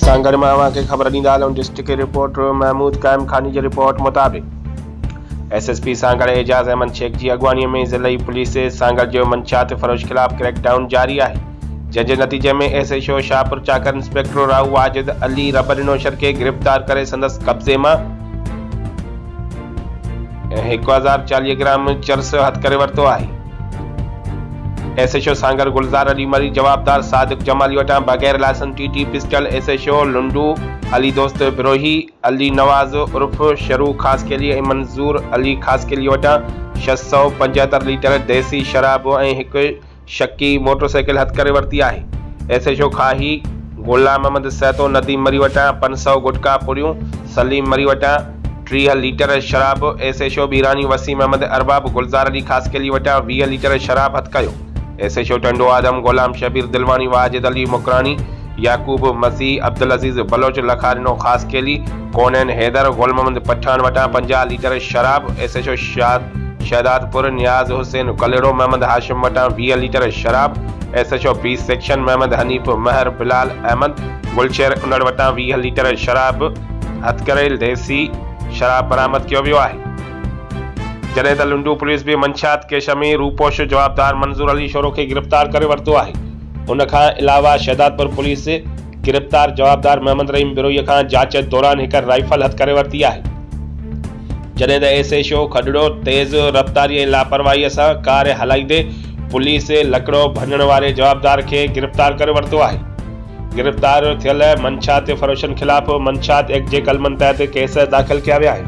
سان گڏ مان اوهان کي خبر ڏيندا هلون ڊسٽرڪٽ رپورٽر محمود قائم خاني جي رپورٽ مطابق S S P Sanghar Ejaz Ahmed Shaikh جي اڳواڻي ۾ ضلعي پوليس سانگهڙ جو منشيات فروش خلاف ڪريڪ ڊائون جاري آهي. جنهن جي نتيجي ۾ S H O Shahpur Chakar inspector Rahu Wajid Ali Rabbar Naushahro کي گرفتار ڪري سندس قبضي مان هڪ هزار چاليهه گرام چرس هٿ ڪري ورتو آهي S H O Sanghar Gulzar Ali Marri جوابدار صادق جمالي وٽان بغير licence T T pistol S H O Lundo Ali Dost Brohi Ali Nawaz عرف شروع خاصخيلي ۽ منظور علي خاصخيلي وٽان ڇهه سؤ پنجهتر ليٽر ديسي شراب ۽ هڪ شڪي موٽر سائيڪل هٿ ڪري ورتي آهي. S H O Khahi Ghulam Muhammad Sahito Nadeem Marri وٽان پنج سؤ گٽڪا پڙيون، سليم مري وٽان ٽيهه ليٽر شراب، S H O Bhirani Waseem Ahmed Arbab Gulzar Ali Khaskheli وٽان ويهه ليٽر شراب هٿ ڪيو. S H O Tando Adam Ghulam Shabbir Dilwani Wajid Ali Makrani Yaqoob مسيح، عبدالعزيز بلوچ لکارينو خاصخيلي، ڪونئن حيدر، غل محمد پٺاڻ وٽان پنجاهه ليٽر شراب، S H O Shad Shahdadpur, Niaz Hussain Kalhoro, Muhammad Hashim وٽان ويهه ليٽر شراب، S H O B section, Muhammad Hanif Mehar, Bilal Ahmed, Gulsher Anar وٽان ويهه ليٽر شراب، هٿڪڙهيل ديسي شراب برآمد ڪيو ويو آهي. جڏهن ته لنڊو پوليس به منشيات ڪيس ۾ روپوش جوابدار منظور علي شورو کي گرفتار ڪري ورتو آهي. ان کان علاوه شهدادپور پوليس گرفتار جوابدار محمد رحيم بروهي کان جاچ دوران هڪ رائفل هٿ ڪري ورتي آهي جڏهن ته ايس ايڇ او کڏڙو تيز رفتاري ۽ لاپرواهي سان ڪار هلائيندي پوليس لڪڙو ڀڃڻ واري جوابدار کي گرفتار ڪري ورتو آهي گرفتار ٿيل منشيات فروشن خلاف منشيات ايڪٽ جي قلمن تحت ڪيس داخل ڪيا ويا آهن.